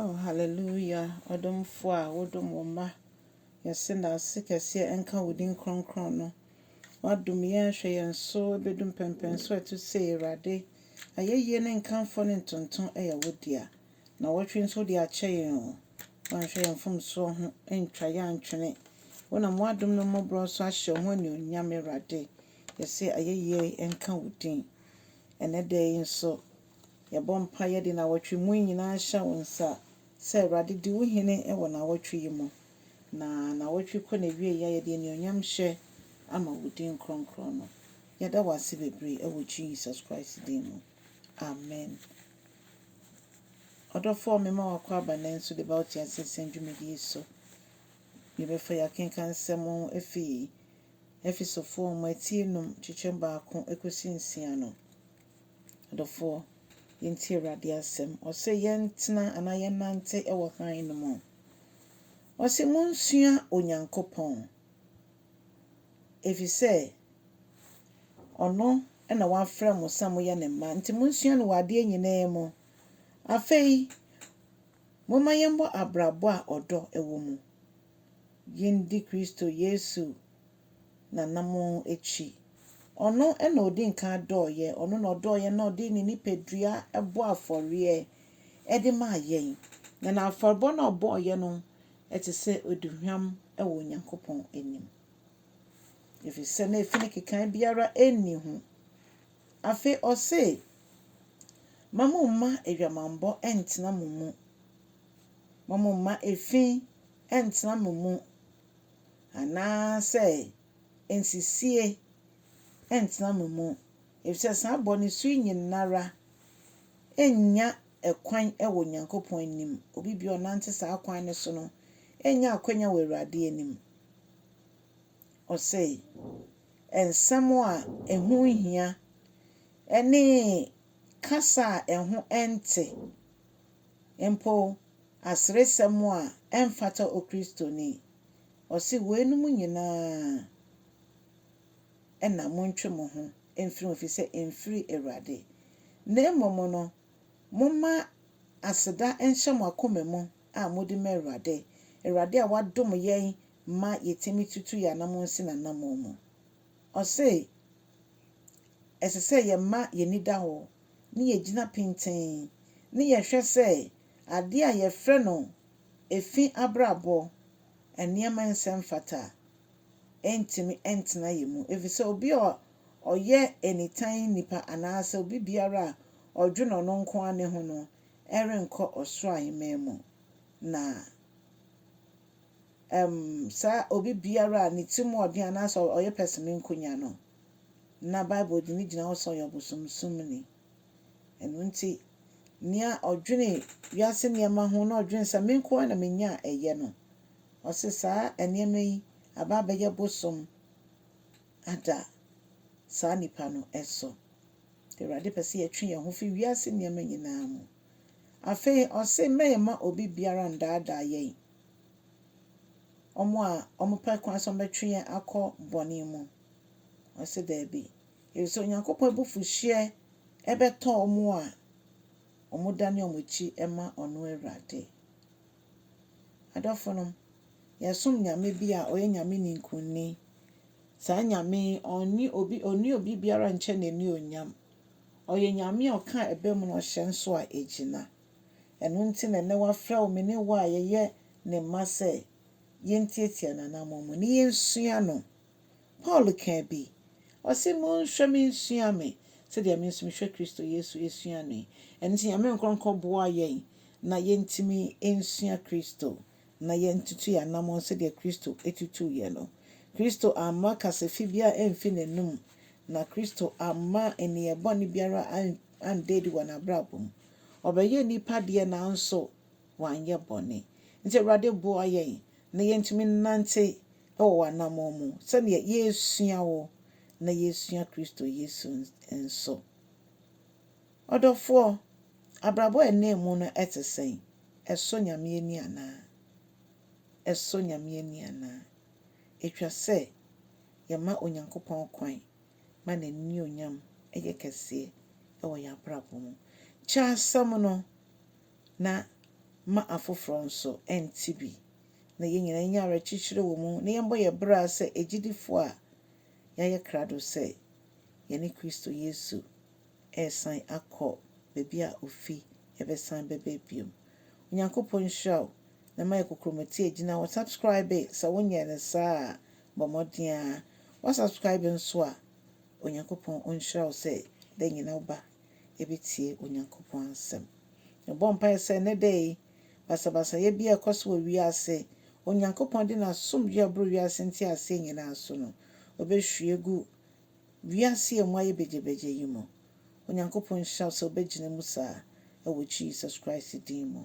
Oh hallelujah ɔdomfoɔ a wodom wo mma yɛse dase kɛseɛ nka wo din kronkron no wadom yɛn ahwɛ yɛn so ɛbɛdu mpɛnpɛnso a ɛto sei awurade ayɛyie ne nkamfoɔ ne ntonto ɛyɛ wo dea nawɔtwe nso wode akyɛ yɛn o wanhwɛ yɛn mfomsoɔ ho antwa yɛn antwene wonam wadom ne mmɔborɔ so ahyɛ wo ho anuonyam awurade yɛse ayɛyie nka wo din ɛnɛ da yi nso Yɛbɔ mpaeɛ yɛde nawɔtwe mu yi nyinaa hyɛ wo nsa sɛ Awurade di wo hene wɔ nawɔtwe yi mu na nawɔtwe yi kɔ nawieɛ a yɛde anuonyam hyɛ ama wo din kronkron no. Yɛda wo ase bebree ɛwɔ Jesus Christ din mu. Amen. Ɔdɔfoɔ me ma wakɔ aba nnɛ nso deba wo teaseɛ sɛm dwumadie yi so. Yɛbɛfa yɛ akenkan nsɛm ho ɛfiri Efesofoɔ nwoma ti enum kyekyɛm baako ɛkɔsi nsia no. Adɔfoɔ, yɛntie Awurade asɛm. Ɔse yɛntena anaa yɛnnante wɔ hann no mu. Ɔse monsua Onyankopɔn, ɛfiri sɛ ɔno na wafrɛ mo sɛ moyɛ ne mma, nti monsua no wɔ adeɛ nyinaa mu. Afei, momma yɛmmɔ abrabɔ a ɔdɔ wɔ mu. Yɛndi Kristo Yesu n'anammɔn akyi. Ɔno na ɔdi nkan dɔɔeɛ, ɔno na ɔdɔɔ yɛn na ɔde ne nipadua bɔɔ afɔreɛ de maa yɛn. Na n'afɔrebɔ no a ɔbɔeɛ no te sɛ aduhwam wɔ Onyankopɔn anim, ɛfiri sɛ na efi no kekae biara nni ho. Afei ɔse, Ma mo mma adwamammɔ ntena mo mu, ma mo mma efi ntena mo mu. Anaasɛ nsisie ntena mo mu, efisɛ saa bɔne su yi nyinara nnya ɛkwan wɔ Onyankopɔn anim, obi biara ɔnante saa kwan no so no nnya akwanya wɔ Awurade anim. Ɔsɛe nsɛm a ɛho nhia ne kasa a ɛho nte mpo aseresɛm a ɛmfata Okristoni. Ɔse, Weinom nyinaa na montwe mo ho mfiri ho, ɛfiri sɛ ɛmfiri Awurade. Na mmom no, momma aseda nhyɛ mo akoma mu a mode ma Awurade, Awurade a wadom yɛn ma yɛtumi tutu yɛn anammɔn si n'anammɔn mu. Ɔse ɛsɛ sɛ yɛma yɛn ani da hɔ ne yɛgyina pintinn ne yɛhwɛ sɛ adeɛ a yɛfrɛ no efi abrabɔ, nneɛma nsɛmfata, ntumi ntena yɛn mu. Efisɛ obi a ɔyɛ nitan nipa anaasɛ obi biara a ɔdwene ɔno nko ara ne ho no renkɔ ɔsoro aheman mu. Na. Ɛm saa obi biara a ne ti mu ɔden anaasɛ ɔyɛ pɛsɛmɛ nkonya no, na Bible de no gyina hɔ sɛ ɔyɛ ɔbosomsomni. Ɛno nti, nea ɔdwene wiase nneɛma ho na ɔdwene sɛ me nko ara na menya a ɛyɛ no, ɔse saa nneɛma yi aba abɛyɛ bosom ada saa nipa no so. Nti Awurade pɛ sɛ yɛtwe yɛn ho fi wiase nneɛma nyinaa mu. Afei ɔse mɛyɛ mma obi biara nnaadaa yɛn. wɔn a wɔpɛ kwan sɛ wɔbɛtwe yɛn akɔ bɔne mu? Ɔse daabi. Ɛfiri sɛ Onyankopɔn abufuhyeɛ ɛbɛtɔ wɔn a wɔdane wɔn akyi ma ɔno Awurade. Adɔfo nom, yɛsom Nyame bi a ɔyɛ Nyame ninkunni. Saa Nyame yi ɔnni obi ɔnni obi biara nkyɛ n'anuonyam. Ɔyɛ Nyame a ɔka a ɛba mu na ɔhyɛ nso a ɛgyina. Ɛno nti na ɛnnɛ wafrɛ wo me ne wo a yɛyɛ ne mma sɛ yentiatia n'anammɔn mu na yensua no. Paul kaa bi, ɔse, Monhwɛ me nsua me, sɛdeɛ me nso mehwɛ Kristo Yesu sua no yi. Ɛno nti Nyame nkorɔnkɔ boa yɛn na yentumi nsua Kristo na yɛntutu yɛn anammɔn sɛdeɛ Kristo tutuu yɛn no. Kristo amma kasafi biara amfi n'anom, na Kristo amma nneyɛɛ bɔne biara anna adi wɔ n'abrabɔ mu. Ɔbɛyɛ nnipa deɛ nanso wanyɛ bɔne. Nti Awurade boa yɛn na yɛntumi nnante wɔ w'anammɔn mu sɛdeɛ yɛresua wo na yɛresua Kristo Yesu nso. Ɔdɔfoɔ, abrabɔ a ɛnam mu no te sɛn? Ɛsɔ Nyame ani anaa? Ɛsɔ Nyame ani anaa? Ɛtwa sɛ yɛma Onyankopɔn kwan ma n'anuonyam yɛ kɛseɛ wɔ yɛn abrabɔ mu. Kyɛ asɛm no, na ma afoforɔ nso nte bi, na yɛn nyinaa nya awerɛkyekyerɛ wɔ mu, na yɛmmɔ yɛn bra sɛ agyidifoɔ a yɛayɛ krado sɛ yɛne Kristo Yesu resan akɔ baabi a ɔfi bɛsan bɛba bio. Onyankopɔn nhyira wo, na ma yɛ kokromoti agyina hɔ. Subscribe sɛ wonyɛɛ no saa a, Bɔ mmɔden ara wa subscribe nso a Onyankopɔn ɔnhyira wo sɛ da nyina wo ba ɛbɛtie Onyankopɔn asɛm. Mebɔ mpaeɛ sɛ ɛnɛ da yi basabasayɛ biara ɛkɔ so wɔ wiase Onyankopɔn de n'asomdwoeɛ a ɛboro wiase nteaseɛ nyinaa so no ɔbɛhwie agu wiase a ɛmu ayɛ begyabegya yi mu. Onyankopɔn nhyira wo sɛ wobɛgyina mu saa wɔ Jesus Christ din mu.